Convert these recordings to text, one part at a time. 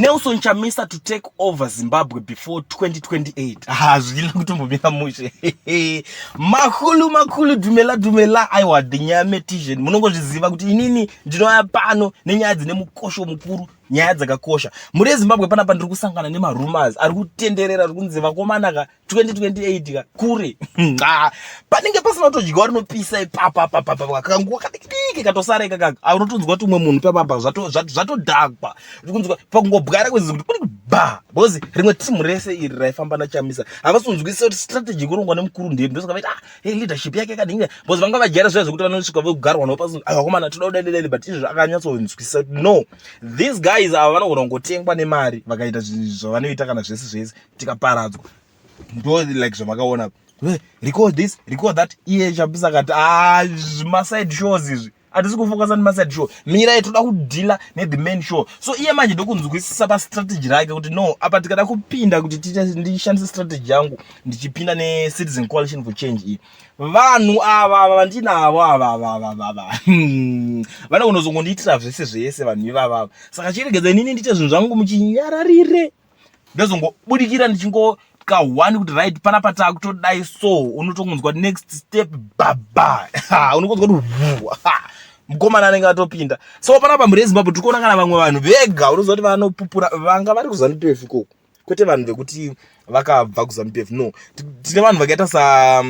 Nelson Chamisa to take over Zimbabwe before 2028. Ah, zvina kutombomira mushe. Makulu makulu dumela dumela aiwa dinyame tizhen. Munongozviziva kuti inini ndinouya pano nenyaya dzine mukosho mukuru, nyaya dzakakosha. Muri Zimbabwe panapa ndiri kusangana nema rumors ari kutenderera ari kunzi vakomana ka 2028 ka kure nxa panenge pasina kutodyiwa rinopisa ipapa papapa kanguva kadikidiki katosara ikaka aunotonzwa kuti umwe munhu papapa zvatodhakwa kunzwa pakungobwara kwenzi kuti kuri ba because rimwe timu rese iri raifamba nachamisa havasi kunzwisisa kuti strategy kurongwa nemukuru ndiri ndosaka vaita ah, hey, leadership yake kadinga because vanga vajaira zviya zvekuti vanosvika vogarwa navo pasi ah, vakomana toda kudadelele but izvi zvakanyatsonzwisisa kuti no these guys ava vanogona kungotengwa nemari vakaita zvavanoita kana zvese zvese tikaparadzwa ndo like zvamakaona record this record that iye chapisa akati ah, maside shows izvi hatisi kufokasa nemaside show mirai toda kudhila nethe main show so iye manje ndokunzwisisa pastrategy rake kuti no apa tikada kupinda kuti ndishandise strategy yangu ndichipinda necitizen coalition for change iyi vanhu ava ava vandinavo avavavavava hmm. vane kunozongondiitira zvese zvese vanhu ivavava saka chiregedza inini ndiite zvinhu zvangu muchinyararire ndozongobudikira ndichingokahwani kuti right pana patakutodai so unotongonzwa next step baba unokonzwa kuti mukomana anenge atopinda so panapa mhuri yezimbabwe tiri kuona kana vamwe vanhu vega unoziva kuti vanopupura vanga vari kuzanupf ikoko kwete vanhu vekuti vakabva kuzanupf no tine vanhu vakaita sa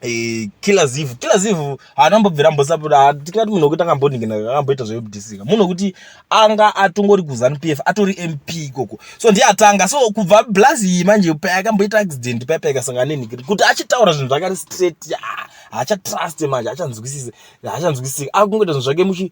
Eh, kila zivu kila zivu haana mbobvira mbosapoda tikati munhu wekuti akamboningina akamboita zvekudisika munhu wekuti anga atongori kuzanu p f atori m p ikoko so ndiye atanga so kubva blazi iyi manje paya akamboita accident paya paya ikasangana nenhikiri kuti achitaura zvinhu zvakari straight haachatraste manje haachanzwisise haachanzwisisika akungoita zvinhu zvake muchi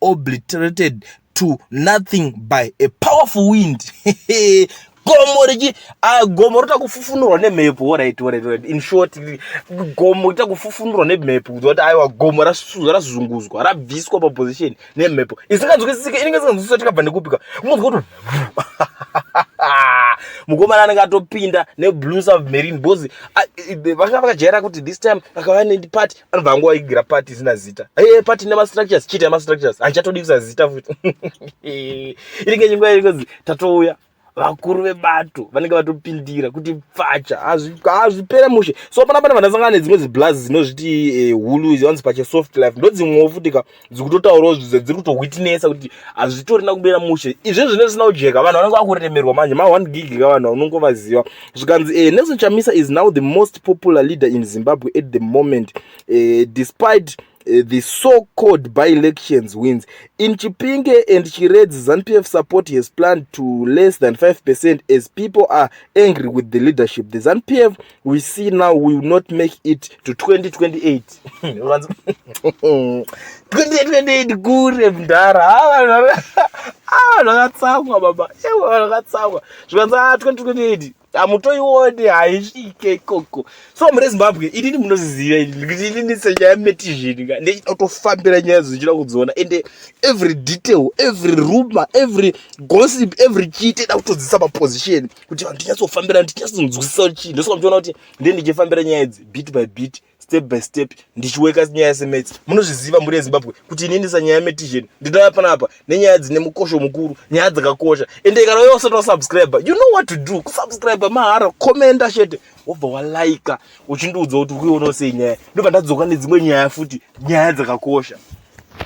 obliterated to nothing by a powerful wind gomo richi ah, gomo rota kufufunurwa nemhepo right right right in short gomo rita kufufunurwa nemhepo kuziva kuti aiwa gomo rasuzwa razunguzwa rabviswa paposition nemhepo isinganzwisisike inenge isinganzwisiswa tikabva nekupika unonzwa kuti mukomana anenge atopinda neblue submarine bcause ah, vanga vakajaira kuti this time akava nepati anobva angu aigira pati isina zita hey, pati ine mastructures chita mastructures haichatodi kusa zita futi inenge chinguva iringozi tatouya vakuru vebato vanenge vatopindira kuti pfacha hazvipere mushe so pana pana vandasangana nedzimwe dziblaz dzinozviti eh, hulu izi vanzi pache soft life ndodzimwewo futi ka dziri kutotaurawo zvidze dziri kutohwitinesa kuti hazvitorina kubira mushe izvi zvinenge zvisina kujeka vanhu vanenge vakuremerwa manje ma one gig ka vanhu unongovaziva zvikanzi eh, nelson chamisa is now the most popular leader in zimbabwe at the moment eh, despite Eh, the so-called by-elections wins. In Chipinge and Chiredzi, ZANPF support has planned to less than 5% as people are angry with the leadership. The ZANPF we see now we will not make it to 2028 2028 kure mdhara avanhu ah, vakatsamwa baba ewa vanhu vakatsamwa zvikanzi a 2028 hamutoione haisvike ikoko so mune zimbabwe inini munoziziva kuti inini senyaya metizhini ka ndechida kutofambira nyaya dzochida kudziona ende every detail every rumor every gossip every chii teda kutodzisa maposition kuti vanhu tinyatsofambirana tinyatsonzwisisa kuti chii ndosoka muchiona kuti ndee ndichifambira nyaya idzi bit by bit step by step ndichiweka nyaya yasemets munozviziva mhuri yezimbabwe kuti ini ndisa nyaya yametision ndinova panapa nenyaya dzine mukosho mukuru nyaya dzakakosha ende kana uye usati wasubscribe you know what to do kusubscribe mahara commenta chete wobva walaika uchindiudza kuti ukuionawo sei nyaya ndobva ndadzoka nedzimwe nyaya futi nyaya dzakakosha